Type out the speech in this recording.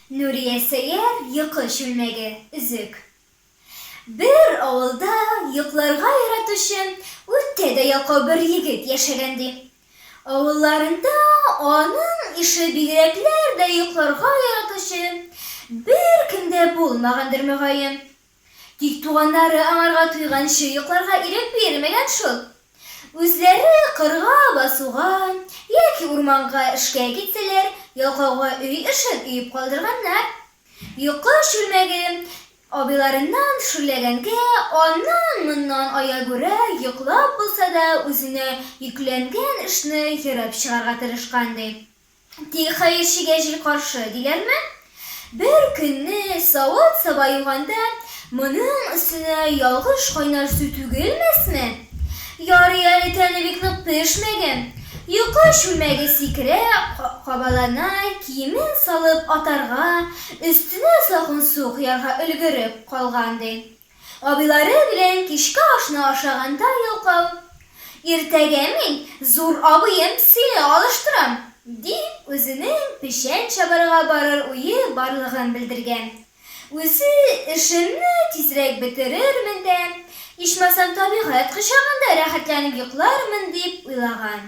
Нурия Сәяр йокы чүлмәге, өзек. Бер авылда йокларга яратучы, үткә дә ялкау бер егет яшәгән, ди. Авылларында аның ише бигрәкләр дә йокларга яратучы беркем дә булмагандыр, мөгаен. Тик туганнары аңарга туйганчы йокларга ирек бирмәгән шул. Үзләре кырга басуга яки урманга эшкә китсәләр, ялкауга өй эшен өеп калдырганнар. Йокы чүлмәге Абыйларыннан шүрләгәнгә, аннан-моннан аягүрә йоклап булса да үзенә йөкләнгән эшне ерып чыгарга тырышкан, ди. Тик хәерчегә җил каршы, диләрме? Бер көнне савыт-саба юганда, моның өстенә ялгыш кайнар су түгелмәсме? Ярый әле тәне бик нык пешмәгән. Йокы чүлмәге сикерә, кабалана, киемен салып атарга, Өстенә салкын су коярга өлгереп калган, ди. Абыйлары белән кичке ашны ашаганда йолкау. Иртәгә мин, зур абыем, сине алыштырам, дип, үзенең печән чабарга барыр уе барлыгын белдергән. Үзе, Эшемне тизрәк бетерермен дә, ичмасам табигать кочагында рәхәтләнеп йоклармын, дип уйлаган.